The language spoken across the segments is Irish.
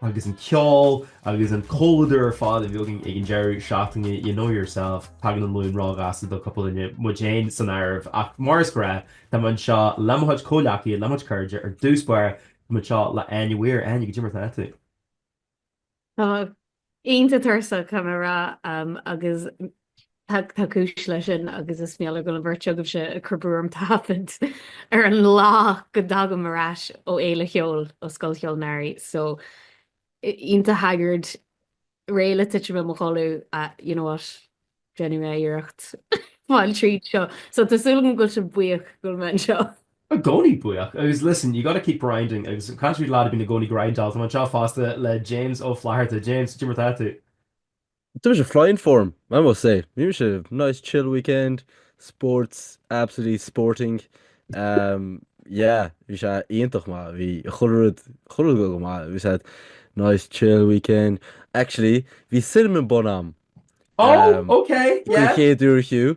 agus an ceol agus an comhluadar ar fad a bhí againn ag an deireadh seachtaine, you know yourself, tagann an Luan róghasta do cúpla duine, muid féin san áireamh, ach mar is gnáth, tá mé anseo le mo chuid comhleacaithe, le mo chuid cairde, ar dtús báire, tá mé anseo le Áine Mhaoir. Áine, cad é mar atá tú? Tá mé iontach tuirseach, caithfidh mé a rá, agus Tá cúis leis sin agus is mar gheall go bhfuil an bheirt agaibhse ag cur brú orm taifead ar an lá go dtagaim ar ais ó fhéile cheoil, ó Scoil Cheoil an Earraigh. So, iontach haggard, réidh le titim i mo chodladh, you know what, déanfaidh mé iarracht fáil tríd seo. So, tá súil agam go bhfuil sibh buíoch go bhfuil mé anseo. I gcónaí buíoch, agus listen, you gotta keep grinding, agus caint faoi lad a bhíonn i gcónaí ag grindáil, táim anseo fosta le James Ó Flatharta. James, cad é mar atá tú? Tá mise flying form, I must say. Bhí mise nice chill weekend, sports, absolutely sporting. Um, yeah, bhí sé iontach maith, bhí chuile rud, chuile rud go go maith. Bhí sé nice chill weekend. Actually, bhí cinnamon bun agam. Oh, um, ok, faoin yeah. chéad uair fiú.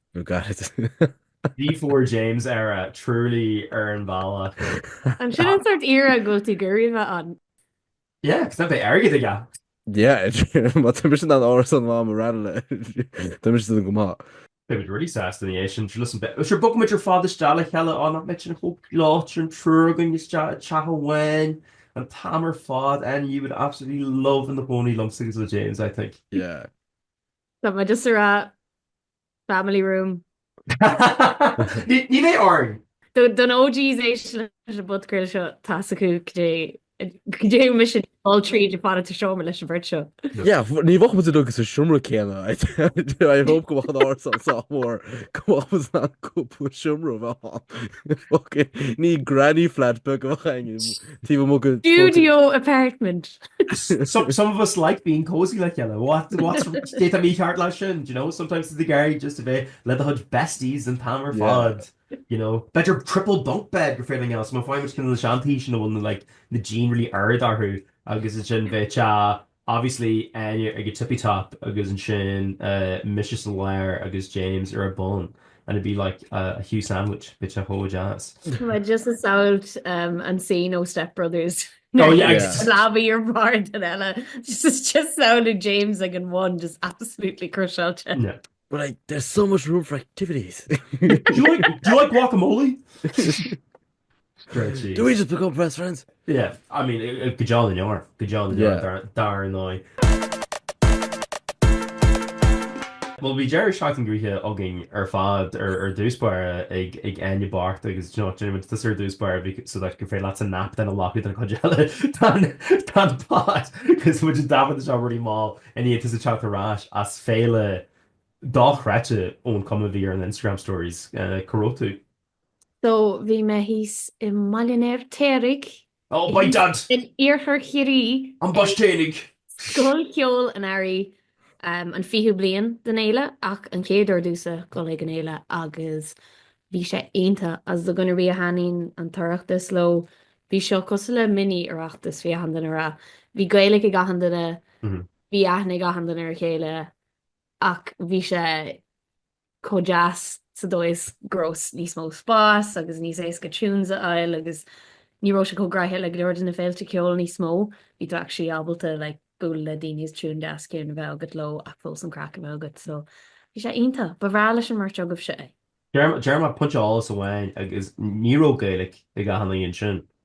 nó gairid. D4 James era truly ar an bhealach. An sin an sórt era a bhfuil tú ag iarraidh bheith ann? Yeah, cos tá airgead acu. Yeah, má tá mise in ann árasán a bheith agam i Ranelagh, tá mise san go maith. Beidh muid really sásta ansin, sure listen, beidh, sure bogfaidh muid ar fad isteach le chéile, á nach mbeidh sin chomh láidir, an triúr againn isteach i dteach amháin, an t-am ar fad, Áine, you would absolutely love i do chónaí liomsa agus le James, I think. Yeah. Tá muid as a rá Family room. Ní bheidh orainn! Do na OGs ag éisteacht leis an bpodchraoladh seo, tá a fhios acu cad é a bhí mise ag dul tríd ag fanacht sa seomra leis an bheirt seo. Yeah, ní bheadh muid uilig sa seomra céanna. I hope go mbeadh an árasán sách mór go mbeadh muid in ann cúpla seomra a bheith ann. Fucking, ní granny flat beag a bheadh againn. Taobh amuigh go Studio apartment. some, some of us like being cozy like yellow what what's state me heart last you know sometimes it's the guy just a bit let the hunt besties and palmer yeah. fod you know bet your triple bunk bed for everything else my fine which can the shanty you know one like the gene really aired are who agus it's in bit uh Obviously, Áine ag a tippy top agus ansin mise sa lár agus James ar a bun and it'd be like a Hugh sandwich, bit a chomh deas. Tá mé just a samhailt an scene ó Step Brothers. Oh yeah, slabí ar mar den eile. Just is just samhail James ag an one just absolutely crucialte. Yeah. But like, there's so much room for activities. do, you like, do you like guacamole? Do we just become best friends? Yeah, I mean, go deo na ndeor, go deo na ndeor, dar, dar ndóigh. Bhuel, bhí deireadh seachtaine gnoitheach againn ar fad ar, ar dtús báire, ag, ag Áine bocht agus, do you know, déanfaidh muid tusa ar dtús báire bhí, so that gur féidir leatsa nap beag a ghlacadh i rith an chuid eile den, den pod, 'cause muid ag taifeadadh seo rud beag mall i ndiaidh tusa teacht ar ais as féile dochreidte ón chuma a bhí ar an Instagram stories, eh, cá raibh tú? So bhí mé thíos i mBaile an Fheirtéaraigh Oh my dad! in iarthar Chiarraí An Buailtín. ag Scoil Cheoil an Earraigh an fichiú bliain den fhéile ach an chéad uair domhsa dhul ag an fhéile agus bhí sé iontach agus do dhuine ar bith a thaitníonn an tOireachtas leo bhí seo cosúil le mini Oireachtas bhí achan duine ra bhí Gaeilic ag achan duine bhí aithne ag achan duine ar a chéile ach bhí sé chomh deas sa dóigh is go raibh níos mó spáis agus níos éasca tunes a fháil agus ní raibh sé chomh gnaitheach le go leor de na féilte ceoil níos mó, bhí tú actually ábalta like bualadh le daoine is tune deas ciúin a bheith agat leo ach fós an craic a bheith agat so bhí sé iontach, ba bhreá leis an mbeirt agaibhse é. Deirim, deirim ach pointe eolais amháin agus ní raibh Gaeilge ag achan duine ansin,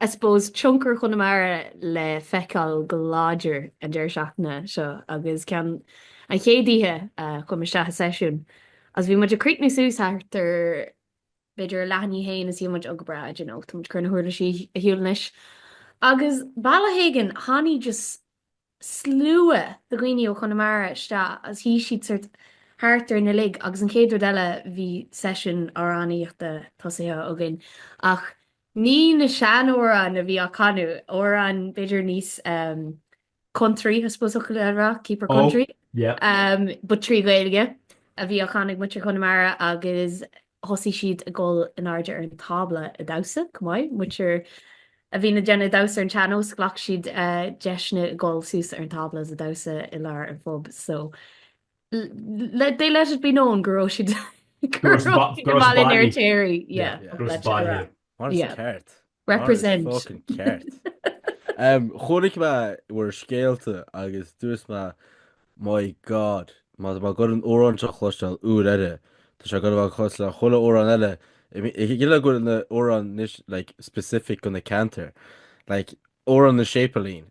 I suppose, tionchar Chonamara le feiceáil go láidir an deireadh seachtaine seo agus ceann an chéad oíche chuaigh mé isteach i seisiún agus bhí muid ag críochnú suas thart ar b'fhéidir a leath i ndiaidh a haon is bhí muid go breá, d'you know, tá muid ag cur na huirlisí ar shiúl anois agus bealach éigin tháinig just slua de dhaoine ó Chonamara isteach agus shuigh siad sort thart orainn uilig agus an chéad rud eile bhí seisiún amhránaíochta tosaithe againn ach ní na sean-amhráin a bhí á chanadh, amhráin b'fhéidir níos country I suppose thiocfá a rá, keep her country, but trí Ghaeilge a bhí á chanadh ag muintir Chonamara agus thosaigh siad ag dul in airde ar an tábla ag damhsa, chomh maith. Muintir a bhí ag déanamh damhsa ar an tsean-nós, ghlac siad deiseanna ag dul suas ar an tábla agus ag damhsa i lár an phub so they let it be known go raibh siad ag dul in airde ar an tséirí. Mar is ceart. Represent. Tá fucking ceart. Chonaic mé bhur scéalta agus dúirt mé My God, má tá mé ag goil an amhrán seo a chloisteáil uair eile, tá sé gurb ea cosúil le chuile amhrán eile. I mean, is cinnte go bhfuil na hamhráin níos, like, specific go na ceantair. Like, amhrán na Séipeilín,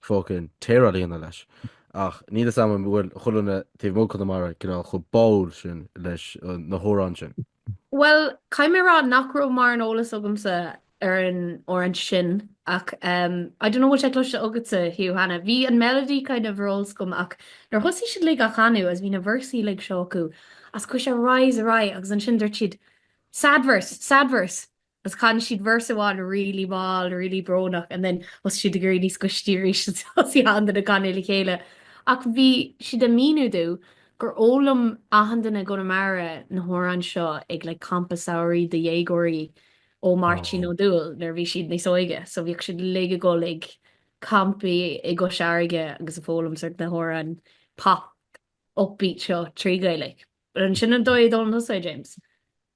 fucking téir á líonadh leis, ach níl fhios agam an bhfuil chuile dhuine taobh amuigh Chonamara cineál chomh báúil sin leis na hamhráin sin. Bhuel, caithfidh mé a rá nach raibh mórán eolais agamsa ar an amhrán sin ach I don't know bhfuil sé cloiste agatsa, Hugh, cheana? Bhí an melody kind of ar eolas agam ach nuair a thosaigh siad uilig á chanadh is bhí na véarsaí uilig seó acu is chuaigh sé ar aghaidh is ar aghaidh agus ansin dúirt siad Sad verse, sad verse! agus chan siad verse amháin really mall, really brónach and then thosaigh siad ag éirí níos gaiste arís agus thosaigh achan duine ag canadh le chéile ach bhí siad ag míniú domh gur fhoghlaim achan duine i gConamara na hamhráin seo ag like campa samhraidh do dhéagóirí ó Máirtín Ó Dúill nuair a bhí siad níos óige so bhíodh siad uilig ag dul ag campaí i gCois Fharraige agus ag foghlaim sórt na hamhráin pop upbeat seo trí Ghaeilge. An sin an dóigh a d'fhoghlaim tusa é, James?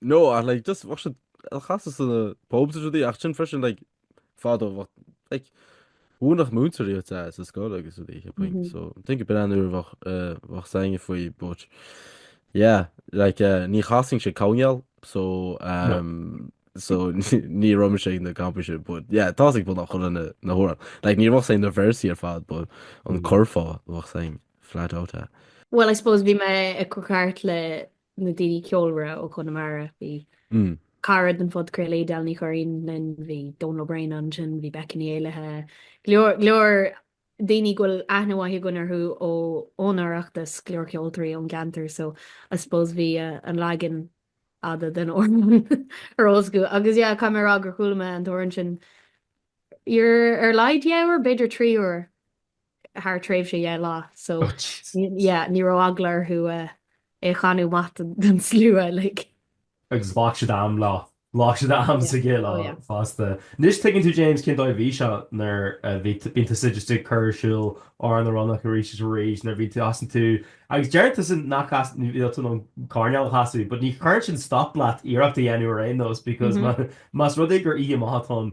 no ach like just bheadh siad á chasadh sna pubs is rudaí ach sin freisin like fadó like mhúineadh múinteoirí iad sa scoil agus rudaí so I think b'in an uair bheadh bheadh a fhios againne faoi but yeah like uh, ní chasann sé cineál so um, so ní raibh mise ag na campaí sin but yeah tá a fhios ag beagnach chuile dhuine na hamhráin like ní bheadh a fhios againn na véarsaí ar fad but an curfá bheadh a fhios againn flat out. Well I suppose bhí mé ag crochadh thart le na daoine ceolmhara ó Chonamara, bhí cara den phodchraoladh Edel Ní Churraoin linn, bhí Domhnall Ó Braonáin ansin, bhí Becky Ní Éallaithe, go leor daoine go bhfuil aithne mhaith againn orthu ón Oireachtas, go leor ceoltóirí ón gceantar so I suppose bhí an leagan fhada den amhrán ar eolas acu agus yeah caithfidh mé a rá gur chuala mé an t-amhrán sin ar a laghad dhá uair b'fhéidir trí uair thar tréimhse dhá lá so yeah ní raibh eagla orthu é a chanadh amach don slua like. Agus ghlac siad am leo. Ghlac siad am sa gcéad lá fosta. Anois tuigeann tú James cén dóigh a bhí seo nuair a bhí bíonn tusa just ag cur ar siúl ár na ronnach arís is arís nuair a bhíonn tú asan tú agus deireann tusa nach bhfuil tú in ann coirnéal a chasadh but ní chuireann sin stop leat iarracht a dhéanamh ar aon nós because más rud é gur oíche maith atá ann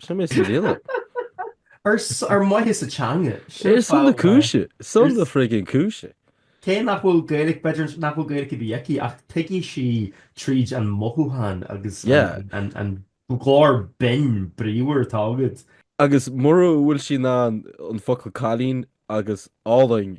Sin mé sa mhíle. Ar mhaithe leis an teanga. Ar son na cúise. Son na friggin cúise. Cé nach bhfuil Gaeilic, b'fhéidir nach bhfuil Gaeilic ar bith aici ach tuigfidh sí tríd an mothúchán agus an glór binn bríomhar atá agat. Agus mura bhfuil sí in ann an focal cailín agus álainn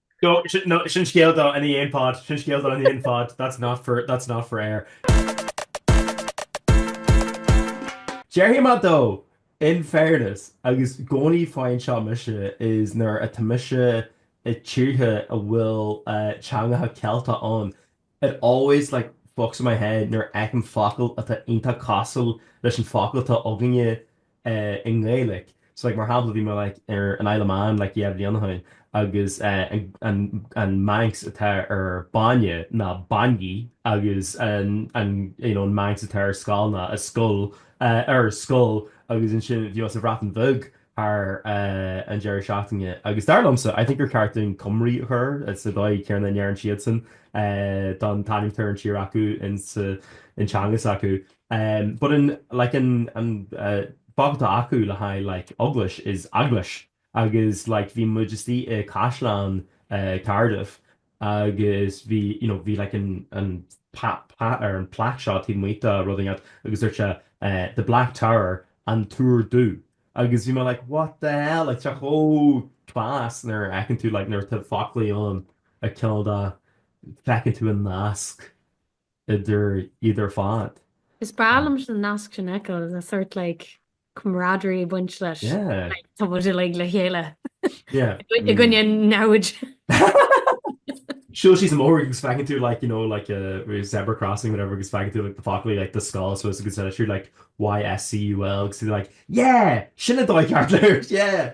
No, no, sin scéal do i ndiaidh an pod, sin scéal do i ndiaidh an pod, that's not for, that's not for air. Déarfaidh mé though in fairness agus i gcónaí faigheann seo mise is nuair atá mise i dtíortha a bhfuil teangacha Ceilteacha ann, It always, like, fucks with my head nuair a fheicim focal atá iontach cosúil leis an focal atá againne i nGaeilic. So, like, mar shampla, bhí mé, like, ar an Isle of Man, like, dhá bhliain ó shin agus an, an Manx atá ar bainne ná bainney agus an, an, you know, an Manx atá ar scoil ná a scoill, er, scoill agus ansin bhí mé sa Bhreatain Bheag, thar an deireadh seachtaine agus dar liomsa, I think gur cheart dúinn Cymru a chur sa dóigh chéanna a ndeireann siadsan an t-ainm atá ar an tír acu insa teanga s'acu. But an like an an focal atá acu le haghaidh like eaglais is eglwys agus like bhí muid istigh i gCaisleán Cardiff agus bhí you know bhí like an an path ar an plaque seo taobh amuigh de rud inteacht agus dúirt sé the black tower an túr dubh agus bhí mé like what the hell like tá sé chomh class nuair a fheiceann tú like nuair tá foclaí ann cineál de feiceann tú an nasc idir iad ar fad. Is breá liom an nasc sin a fheiceáil, tá sórt like camaraderie ag baint leis like tá muid uilig le chéile i gcoinne namhaid. Siúl síos an bóthar agus feiceann tú like you know like a uh, zebra crossing whatever agus feiceann tú like the foclaí like ysgol so agus siú like YSCUL agus like yeah sin an dóigh ceart le rá yeah.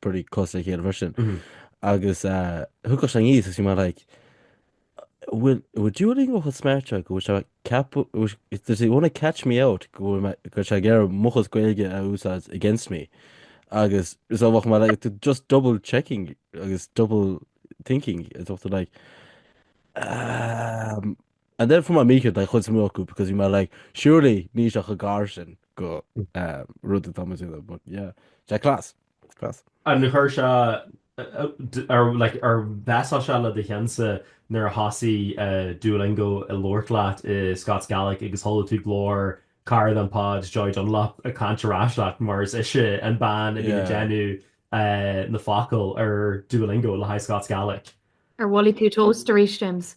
pretty close dá chéile freisin. Agus thug sé an aois agus bheadh mé like Would, would Duolingo have smart, tá a fhios agat? Go bhfuil sé ceapadh, go bhfuil sé- does he want to catch me out? Go bhfuil mé, go bhfuil sé ag iarraidh mo chuid Gaeilge a úsáid against me. Agus so bheadh mé like t- just double checking agus double thinking an dtuigeann tú like um, And then for my, mícheart, a chuid suimiúil acu because bheadh mé like surely níl sé chomh gar sin go rud atá muid uile but yeah sé class class. Ar chuir sé ar like ar mess-áil sé le do cheannsa nuair a thosaigh Duolingo ag labhairt leat i Scots Gaelic agus chuala tú glór cara den pod Joy Dunlop ag caint ar ais leat mar is ise an bean a bhíonn ag déanamh na focail ar Duolingo le haghaidh Scots Gaelic. Ar mhaith leat tosú arís James?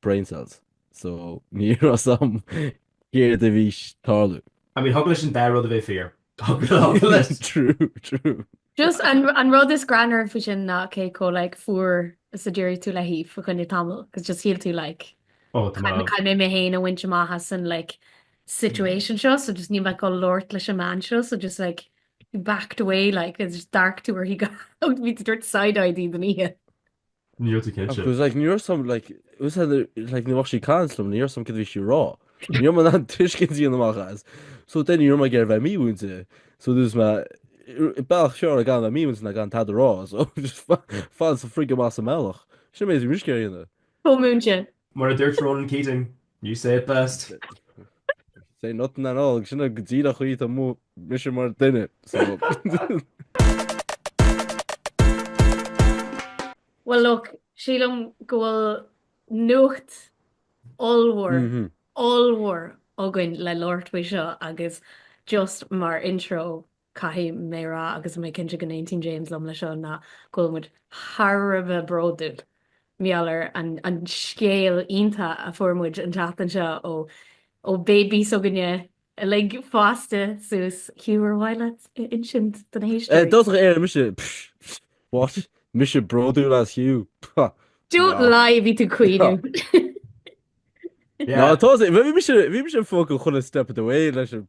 brain cells so ní raibh a fhios a'm céard a bhí ag tarlú. I mean thig leis an dá rud a bheith fíor. Thig leis. True true. Just an rud is greannmhar faoi sin ná cé chomh like fuar is a d'éirigh tú léi fa choinne tamaill cos just shíl tú like Oh tá mé. caithfidh mé mé féin a bhaint amach as an like situation seo so just níl mé ag dul labhairt leis an mbean seo so just like you backed away like is just d'amharc tú uirthi go, ó bhí tú ag tabhairt side eye di don oíche. Ní raibh tú cinnte. Agus like níor sam like ús had like ní bhfach sí cant lom níor sam cad bhí sí rá. Níor man an tuiscint díon amach as. So then níor man ag ar bheith mímhúinte. So dús me bealach fearr gan bheith mímhúinte ná gan tada rá. So just fad sa frigh go maith sa mbealach. Sin an méid bhí muisce ar dhéanamh. Chomh múinte. Mar a dúirt Ronan Keating, You say it best. Say nothing at all, sin go díreach an chaoi a bhfuil mise mar duine, so. Well look, sílim go bhfuil nuacht ollmhór, ollmhór againn le labhairt faoi seo agus just mar intro, Caithfidh mé a rá, agus tá mé cinnte go n-aontaíonn James liom leis seo, ná go bhfuil muid thar a bheith bródúil mar gheall ar an scéal iontach a fuair muid an tseachtain seo ó ó baby s'againne uilig fásta suas Hugh ar mhaith leat a insint do na héisteoirí? Dúirt sí "ar muid", mise! What? Mise bródúil as Hugh? Pah! Don't lie, bhí tú ag caoineadh! Ná tá sé, bhí mise bhí mise fucking step of the way leis an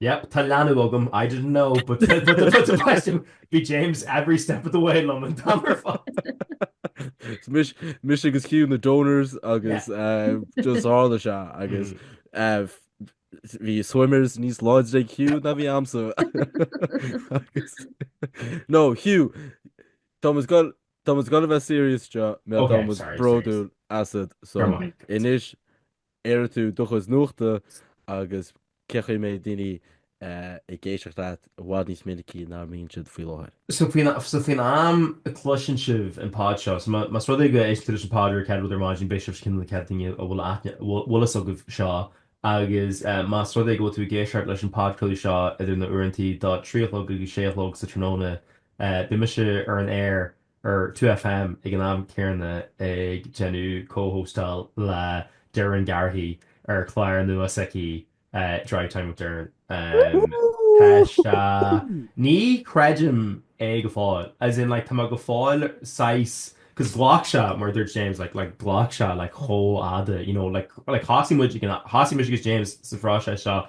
Yep, tá leanbh agam, I didn't know, but but b'aisteach, bhí James every step of the way liom an t-am ar fad. Mise agus Hugh na donors agus just tharla sé agus bhí swimmers níos láidre ag Hugh ná bhí a'msa. No, Hugh, tá muid ag goil, tá muid ag goil a bheith serious anseo, tá muid bródúil asat, so, anois, airigh tú do chuid nuachta agus cén chaoi a mbeidh daoine ag éisteacht leat i bhfad níos minicí ná a mbíonn siad faoi láthair. So faoin am a chloiseann sibh an pod seo, so más rud é go éisteann tú leis an pod an chéad rud ar maidin beidh sibh cineál na chéad daoine a bhfuil fhios agaibh seo agus más rud é go bhfuil tú ag éisteacht leis an podcraoladh seo idir na uaireantaí do 3 a chlog agus 6 a chlog sa tráthnóna beidh mise ar an aer ar 2FM ag an am céanna ag déanamh co-hostáil le Doireann Garrihy ar chlár nua s'aici Drive Time with Doireann. Tá sé, ní chreidim é go fóill, as in like tá mé go fóill saghas, cos ghlac sé, mar a dúirt James, like like ghlac sé like chomh fhada, you know, like like thosaigh muid, thosaigh mise agus James sa phróiseas seo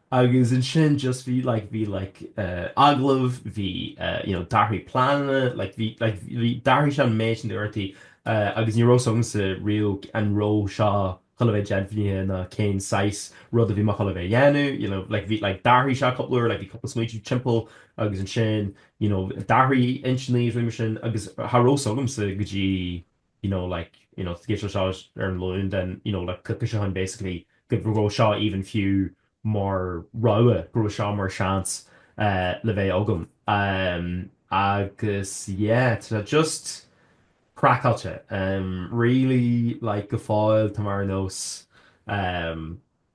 Agus ansin just bhí like bhí like agallamh, bhí you know d'athraigh pleananna, like bhí like bhí d'athraigh sé an méid sin d'uaireantaí agus ní raibh fhios agamsa riamh an raibh seo chun a bheith deimhnithe ná cén saghas rud a bhí mé chun a bheith ag déanamh, you know like bhí like d'athraigh sé cúpla uair, like bhí cúpla smaointe timpeall agus ansin you know d'athraigh intinní, rudaí mar sin agus cha raibh fhios agamsa go dtí you know, like, you know, scéal seo ar an Luan then, you know, like, coicís ó shin, basically, go raibh seo even fiú mar rogha, go raibh seo mar seans le bheith agam. Agus, yeah, tá sé just craiceáilte. Really, like, go fóill, tá mé ar nós.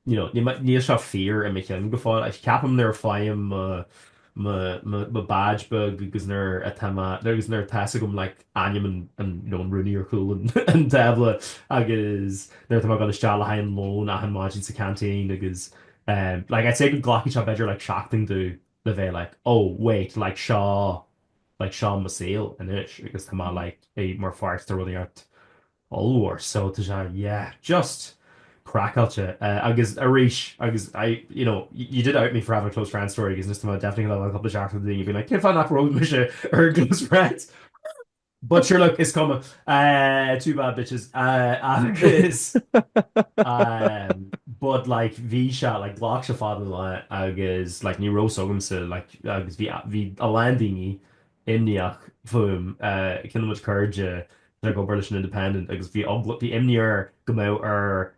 you know níl seo fíor i mo cheann go fóill ach ceapaim nuair a faighim mo mo mo badge beag agus nuair atá mé agus nuair atá fhios agam like ainm an an you know an rúnaí ar chúl an an tábla agus nuair atá mé ag dul isteach le haghaidh an lón achan maidin sa canteen agus em like I'd say go nglacfaidh sé b'fhéidir like seachtain domh le bheith like oh wait like seo like seo mo saol anois agus tá mé Mhm. like i- mar pháirt de rudaí ort ollmhór so tá sé yeah just craiceáilte eh agus arís agus I you know you did out me for having a close friends story agus anois tá mé definitely ag dul an cúpla seachtain daoine being like cén fáth nach raibh mise ar an close friends but sure look is cuma eh too bad bitches eh agus um, but like bhí sé like ghlac sé fada agus like ní raibh fhios agamsa like agus bhí bhí a lán daoine imníoch fúm. Ceann de mo chairde atá ag obair leis an Independent agus bhí bhí imní air go mbeadh air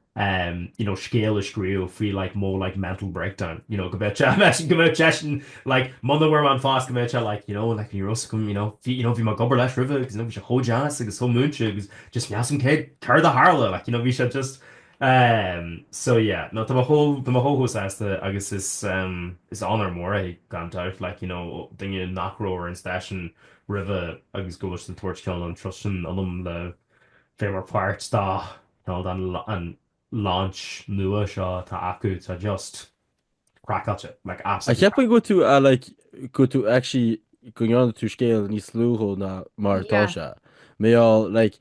you know scéal a scríobh faoi like mo like mental breakdown you know go mbeadh sé go mbeadh seisean like muna bhfuair mé an phost go mbeadh sé like you know like ní raibh 's agam you know bhí you know bhí mé ag obair leis roimhe agus you know bhí sé chomh deas agus chomh múinte agus just níl 's agam céard céard a tharla like you know bhí sé just Um, so yeah, no, tá mé chomh, tá mé chomh chomh sásta agus is, um, is onóir mhór é, gan dabht, like, you know, ó duine nach raibh ar an stáisiún roimhe agus go bhfuil siad ag tabhairt ceann an trust sin ionam le bheith mar pháirt dá, you know, don la- an launch nua seo atá acu, tá just craiceáilte, like, absolutely. A cheapadh go bhfuil tú like go bhfuil tú actually, go ndéanann tú scéal níos lúthó na mar atá sé. Yeah. Mé like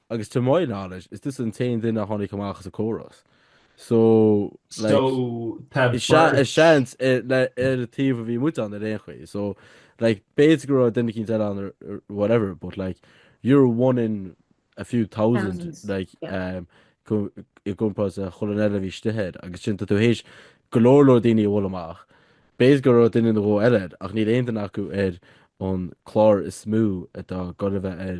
agus to my knowledge is tusa an t-aon duine a tháinig amach as an gcóras sin so like so tá beirt is ea is seans ar an taobh a bhí muid ann ar aon chaoi so like b'fhéidir go raibh duine eicínt eile ann or whatever but like you're one in a few thousand like um, i gcomparáid le chuile dhuine eile a bhí istigh air agus sin tú th'éis go leor leor daoine a bhualadh amach b'fhéidir go raibh duine nó dhó eile ach níl aon duine acu ar an gclár is mó atá ag goil a bheith ar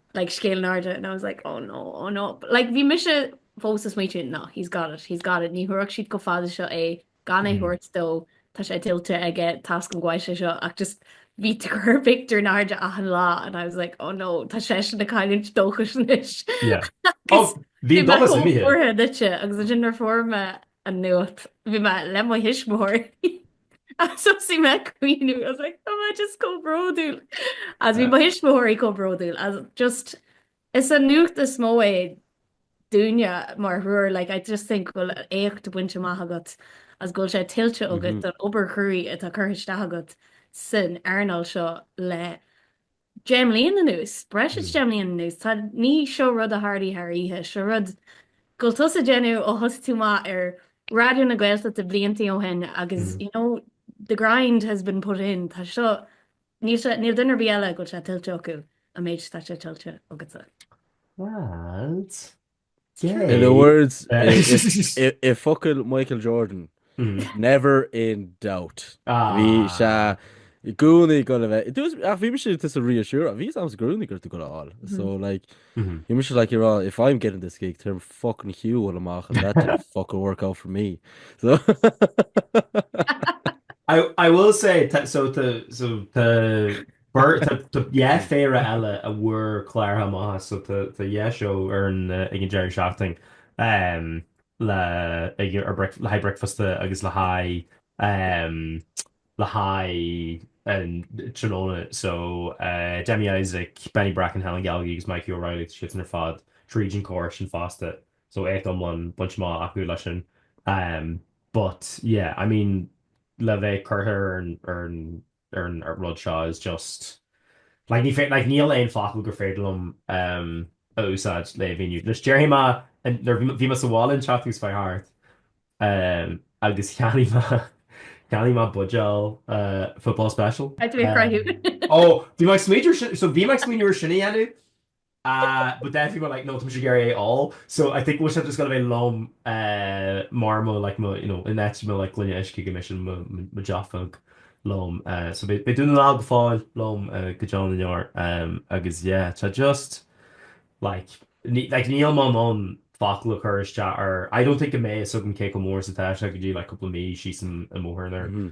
like scéal in airde and I was like oh no oh no like bhí mise fós ag smaoitiú no he's got it he's got it ní thabharfadh siad chomh fada seo é gan é thabhairt dó tá sé tuillte aige tá's agam go bhfaighidh sé seo ach just bhí Tiger Picture in airde achan lá and I was like oh no tá seisean ag cailliúint dóchais anois bhí dóchas imithe agus ansin nuair a fuair mé an nuacht. Bhí mé le mo thuismitheoirí agus thosaigh mé ag caoineadh. I was like tá mé just chomh bródúil agus bhí mo thuismitheoirí chomh bródúil as just is an nuacht is mó é dúinne mar thriúr like I just think go bhfuil éacht bainte amach agat agus go bhfuil sé tuillte agat don obair chruaidh atá curtha isteach agat san earnáil seo le deich mbliain anuas, breis is deich mbliain anuas, tá, ní seo rud a tharlaigh thar oíche, seo rud go bhfuil tusa ag déanamh ó thosaigh tú amach ar Raidió na Gaeltachta bliantaí ó shin agus you know the grind has been put in, tá seo, níl sé, níl duine ar bith eile go bhfuil sé tuillte acu an méid atá sé tuillte agatsa. Bhuel. In the words, i bhfocail Michael Jordan, never in doubt. Bhí sé i gcónaí go raibh, bhí mise do do reassure, bhí a fhios agam i gcónaí go raibh tú ag gabháil a fháil. So like, bhí mise like, you're all, if I'm getting this gig, tá orm fucking Hugh a bhualadh amach and that didn't fucking work out for me. So I will say, tá, so tá, so tá, B'fhearr, tá dhá phéire eile ann a fuair cláir chomh maith, so tá dhá sheó ar an, ag an deireadh seachtaine, le haghaidh bricfeasta agus le haghaidh, le haghaidh an tráthnóna, so Demi Isaac, Benny Bracken, Helen Galgey agus Mikey O'Reilly, tá siadsan ar fad tríd an córas sin fosta, so éacht iomlán, bainte amach acu leis sin. But, yeah, I mean, le bheith curtha ar an, ar an, ar an rud seo is just like ní féidir like níl aon focal gur féidir liom a úsáid le mhíniú leis. Déarfaidh mé nuair bhí mé sa bhaile an tseachtain seo chuaigh thart agus cheannaigh mé cheannaigh mé buidéal football special. Ó bhí mé ag smaoineamh so bhí mé ag smaoineamh ar sin a dhéanamh Ah, but then people were like no, tá mise ag iarraidh é a ól. So I think bhfuil sé just gonna bheith liom eh mar mo like mo you know in áit mo like gloine uisce go mbeidh sin mo mo dearfach liom eh so beidh beidh Dún na nGall go fóill liom eh go deo na ndeor em agus yeah tá just like ní like níl mé in ann focal a chur isteach air I don't think go mbeidh fhios agam cé chomh mór is atá sé go dtí like cúpla mí síos an i mo thuairim.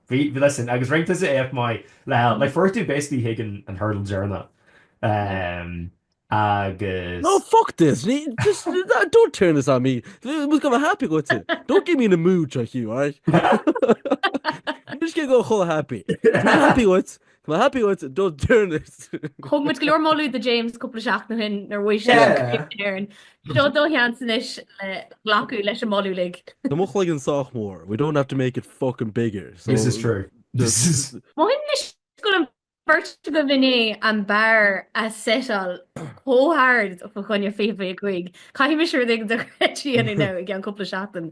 Bhí, listen, agus roinnt tusa éacht maith le hell, like for it to basically hit an hurdle deireanna agus. No, fuck this, just don't turn this on me, I was going to be happy with you, don't get me in a mood, John Hugh, alright? Níl sé go chomh happy, I'm not happy with, Tá mé happy dhuit a dul deireannaigh. Thug muid go leor moladh do James cúpla seachtain ó shin nuair bhuaigh sé an Éireann. Seo do sheans anois le glacadh leis an moladh uilig. Tá mo chloigeann sách mór, we don't have to make it fucking bigger, so. This is true. This is. Mothaím anois go bhfuil an bheirt agaibh i ndiaidh an bar a setáil chomh hard fá choinne 2025. Caithfidh mise rud éigin dochreidte a dhéanamh i gceann cúpla seachtain.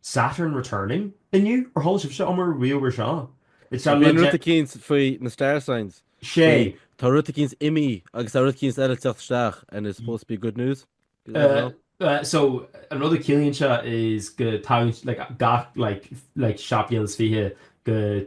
Saturn returning? Inniu? Ar chuala sibhse ariamh ar seo? It Sea, sounded bíonn like rud de- eicínt faoi na star signs. Sea. Faoi, tá rud eicínt imithe agus tá rud eicínt eile ag teacht isteach and it's supposed to be good news. I don't Eh, know. eh, so, an rud a chiallaíonn sé is go tagann, like, gach, like, like, seacht mbliana is fiche go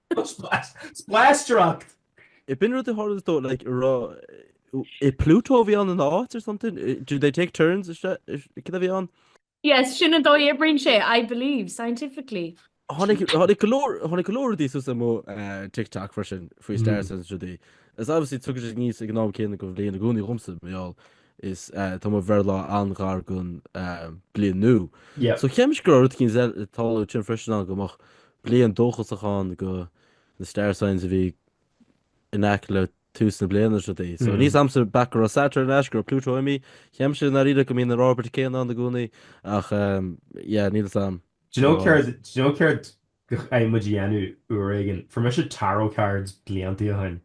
Spleáistreacht! Ab in rud a tharla dó like arbh é Pluto a bhí ann ina áit or something do they take turns is cad a bhí an? Yes sin an dóigh oibríonn sé I believe scientifically. Tháinig tháinig go leor tháinig go leor rudaí suas mo TikTok freisin faoi star signs rudaí is obviously tagann sé aníos ag an am céanna den bhliain i gcónaí dhomsa mar gheall is tá mo bhreithlá an-ghar don bliain nua so cheap mise go raibh rud eicínt ag tarlú ansin freisin ann go mbeadh Bliain dóchasach ann do na star signs a bhí in aice le tús na bliana seo dí. So níl a fhios agamsa back go raibh Saturn ar ais go raibh Pluto imithe cheap mise i ndáiríre go mbíonn an orbit céanna ann i gcónaí ach yeah, níl a fhios agam. Do you know céard do you know céard muid a dhéanamh uair éigin fuair mise tarot cards blianta ó shin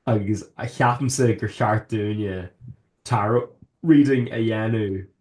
agus ceapaimse gur cheart dúinne tarot reading a dhéanamh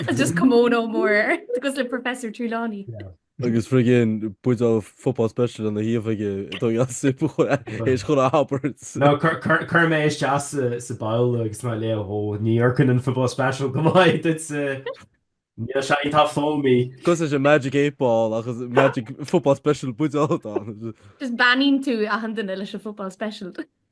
It's just kimono mór cosúil le Professor Trelawney. Agus friggin buidéal football special ina thaobh aige ag dul as sip a chuir air chun a thabairt. No, cuirfidh mé isteach sa ball agus tá mé ag léamh ó ní amharcann an football special go maith duitse. Níl sé ag tá foamy. Cosúil leis an magic eight ball ach is magic football special buidéal atá ann. Just beannaíonn tú achan duine leis an football special.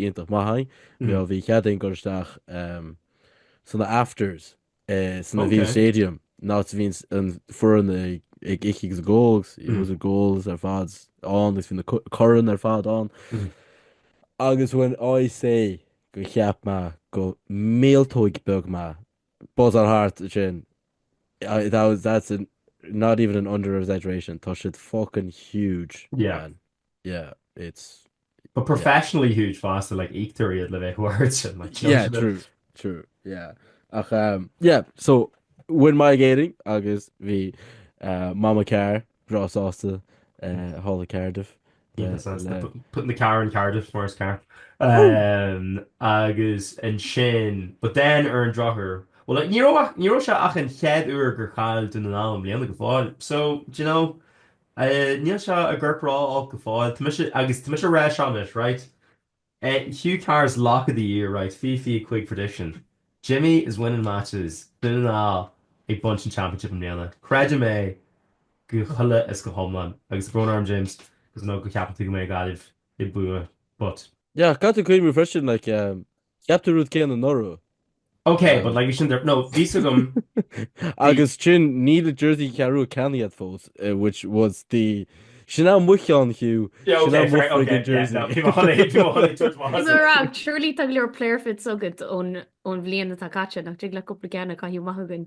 Iontach maith againn. Bhí bhí cead againn dul isteach sna afters san Aviva Stadium nó bhí an an foireann ag ag ithe agus ag ól it was ag ól ar fad ann agus bhí na foirne ar fad ann agus when I say go cheap mé go míoltóg beag mé buzz ar thart sin I, that was that's an not even an under exaggeration tá siad fucking huge yeah man yeah it's But professionally huge fosta, like, íoctar iad le bheith mar sin, like, do you know Yeah, what I mean? true, true, yeah. Ach, um, yeah, so, bhain mé ag Éirinn agus bhí uh, Mama Carr, bhreá sásta, uh, thall i Cardiff. Yeah, le- that's le- the- putting the car in Cardiff, Morris car. Um, agus an sin, but then ar an drochuair, well, like, ní raibh ach- ní raibh sé ach an chead uair gur chaill Dún na nGall i mbliana go fóill. So, do you know, A, Níl seo ag cur brú orm go fóill. Tá mise, agus tá mise a rá seo anois, right? A, Hugh Carr's lock of the year, right? Fiche fiche cúig prediction. Jimmy is winning matches. Dún na nGall ag baint an championship i mbliana. Creidim é go huile is go hiomlán. Agus tá brón orm, James, cos I know go ceapann tú go mbeidh Gaillimh ag buachan, but. Yeah, caithfidh tú cuimhniú freisin, like, Cheap tú rud céanna anuraidh. Ok, but like bhí sin de, no, bhí a fhios agam, bhí. Agus ansin, níl an jersey Ceathrú Rua ceannaithe agat fós, which was the, sin é an bhuíochas, Hugh, Yeah, sin é ok, an fair, ok, mhuichroigeann yeah, jersey. no, bhí mo shon ag, bhí mo shon ag tabhairt amach Is as. mura, surely tá go leor player fits agat ón, ón bhliain atá caite, nach dtig leat cúpla ceann a chaitheamh amach chugainn?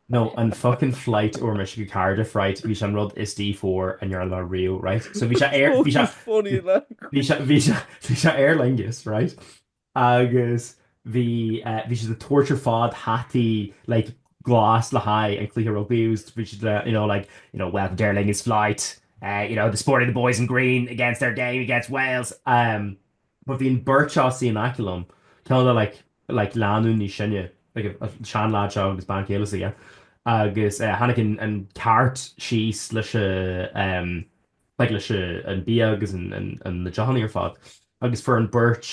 No, an fucking flight a fuair mise go Cardiff, right, ba é sin an rud is D four a ndearna mé riamh, right, so bhí sé aer, bhí sé, bhí sé, bhí sé, bhí sé Aer Lingus, right, agus bhí, eh, bhí siad ag tabhairt ar fad hataí, like, glas le haghaidh an cluiche rugbaí, it was, bhí siad le, you know, like, you know, welcome to Aer Lingus flight, eh, you know, supporting the boys in green against their game against Wales, eh, but bhí an bheirt seo suí in aice liom, ceann acu like, like lánúin níos sine, like an sean leaid seo agus bean chéile s'aige agus eh tháinig an an cart síos leis an em like leis an bia agus an an an na deochanna ar fad agus fuair an beirt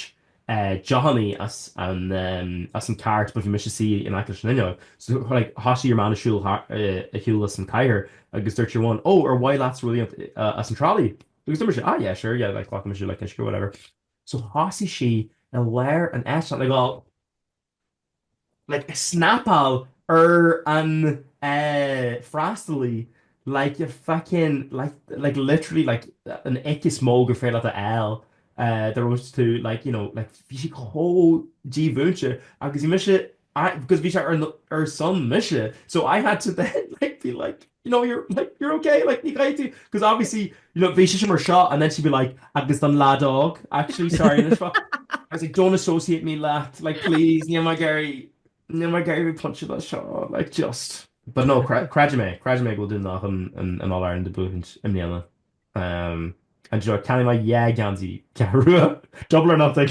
eh deochanna as an em as an cart but bhí mise suí in aice leis an fhuinneog so like thosaigh your man ag siúl thar eh ag siúl as an áit agus dúirt your one oh ar mhaith leatsa rud éigin eh, as an trolley Agus bhí mise, ah yeah sure yeah like glacfaidh mise le uisce whatever so thosaigh sí i lár an eitilt like well like ag snapáil ar an eh freastalaí like you're fucking like like literally like an ick is mó gur féidir leat a fháil eh the rudest like you know like bhí sí chomh dímhúinte agus bhí mise I, because bhí sé ar na, ar son mise, so I had to then like be like, you know, you're like, you're ok, like ní gá duit, because obviously, you know, bhí sise mar seo and then she'd be like, agus don leaid óg, actually, sorry, I was like, don't associate me leat, like please, níl mé ag iarraidh, níl mé ag iarraidh bheith bainteach le seo, like just. But no, cre, creidim é, creidim é go bhfuil Dún na nGall chun an All Ireland a bhuachaint i mbliana. Um, and do you know what, ceannóidh mé dhá gheansaí Ceathrú Rua, double or nothing.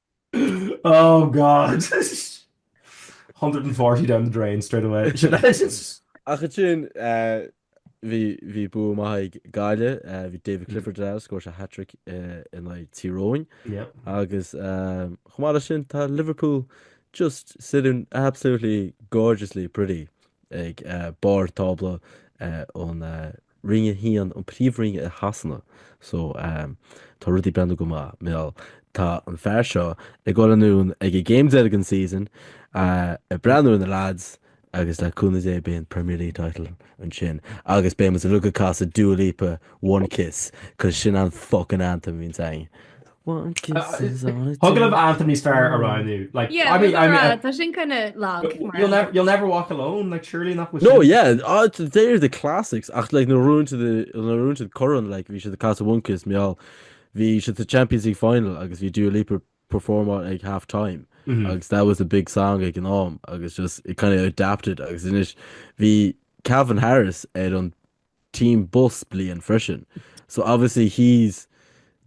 Oh God! 140 down the drain straight away. Sin é. Ach ansin, bhí, bhí bua maith ag Gaillimh, bhí David Clifford ar fheabhas, scór sé hat-trick in aghaidh Tír Eoghain. Yep. Agus chomh maith leis sin, tá Liverpool just sitting absolutely gorgeously pretty ag barr tábla ón Roinn 1, an príomhroinn i Shasana. So, ehm, tá rudaí ag breathnú go maith. Bhuel, tá an fear seo ag dul anonn ag an game deiridh den season, eh, ag breathnú ar na lads agus le cúnamh Dé beidh an Premier League title ansin agus beidh muid uilig ag casadh Dua Lipa, One Kiss, 'cause sin an fuckin anthem a bhíonns againn. Agallamh Anthony Starr a roghnú like yeah, I mean, I mean, uh, sin kinda lag you'll never you'll never walk alone like surely not with no yeah uh, they're the classics ach like na rún to the na rún to the current like bhí si the Casa Wonkis meall bhí si the Champions League final agus bhí dú leap perform on like half time mm -hmm. agus that was a big song ag an am agus just it kind of adapted agus inis bhí Calvin Harris ar an team bus bliain freisin so obviously he's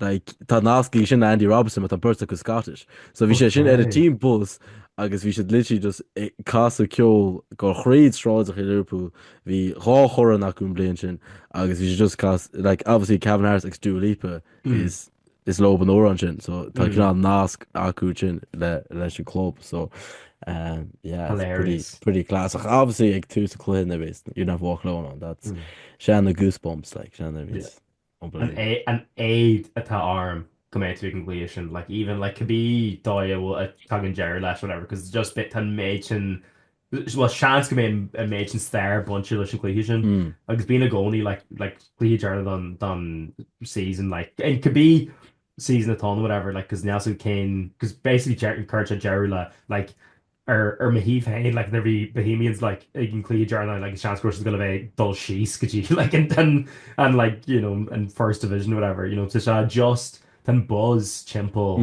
like tá nasc aige sin le Andy Robertson but tá beirt acu Scottish so bhí sé sin ar an Okay. team bus agus bhí siad literally just ag casadh ceol ag dul thríd sráideachaí Liverpool bhí dhá chorn acu an bhliain sin agus bhí siad just cas like obviously Calvin Harris agus Dua Lipa is is leob an t-amhrán sin so tá mm. cineál nasc acu sin le leis an club so um, yeah, pretty, pretty class ach obviously ag tús an chluiche nuair a bhíos You'll Never Walk Alone ann that's mm. sin na goosebumps like sin an éad atá orm go mbeidh tú ag an gcluiche sin like even like cibé dóigh a dtagann deireadh leis whatever because just beidh tá an méid sin bhuel seans go mbeidh an méid sin stair bainte leis an gcluiche sin agus bíonn i gcónaí like cluiche deireanach don season like cibé season atá ann whatever like cos níl 'fhios agam cén cos basically ag cur deireadh le like ar ar mo thaobh féin like nuair bhí Bohemians like ag an gcluiche deireanach like is seans go raibh siad ag dul a bheith ag dul síos go dtí like an an an like you know an first division whatever you know tá sé just tá an buzz timpeall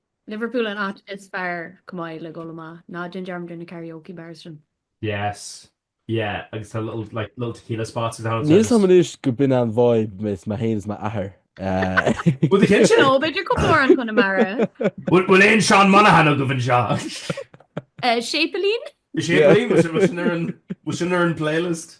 Liverpool an áit is fearr chomh maith le dul amach, ná déan dearmad ar na karaoke bars ansin. Yes. Yeah. Agus tá little like little tequila spots agus thar an Níl a fhios agam anois gurb in an vibe is mé fhéin is mo athair eh. Bhuel do chill sé. No, b'fhéidir cúpla amhrán Conamara. Bhfuil bhfuil aon Seán Monaghan agaibh anseo? Eh, Séipéilín? Séipéilín? Bhfuil sin ar an bhfuil sin ar an playlist.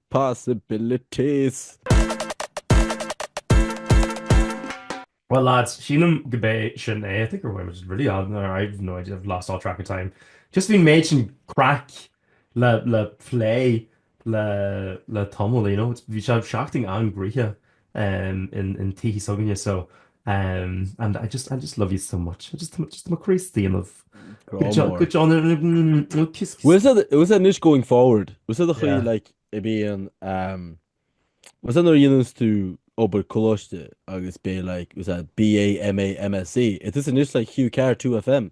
possibilities. Well lads, sílim gurb é sin é, I think we're women just really odd in there, I've no idea, I've lost all track of time. Just bhí an méid sin craic le le plé le le tamall, you know, bhí sé seachtain an-ghraitheach. in tithe s'againne so and I just I just love you so much I just just mo Críostaí inniu. Grá mór. Good John inniu kiss kiss. Bhfuil sé anois going forward? Bhfuil sé do chroí like i bhfíon um bhfuil sé nuair a dhéananns tú obair coláiste agus b'fhéidir like bhfuil sé BA, MA, MSc. It is anois like Hugh Carr 2FM.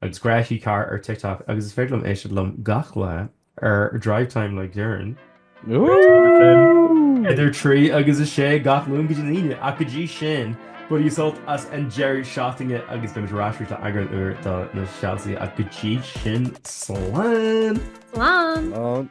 agus grá Hugh Carr ar TikTok agus is féidir libh éisteacht liom gach lá ar Drive Time le Doireann. Woohoo! Idir 3 agus 6 gach Luan go dtí na hAoine ach go dtí sin bain sult as an deireadh seachtaine agus beimid ar ais arís le eagrán úr do na Soilse ach go dtí sin slán! Slán!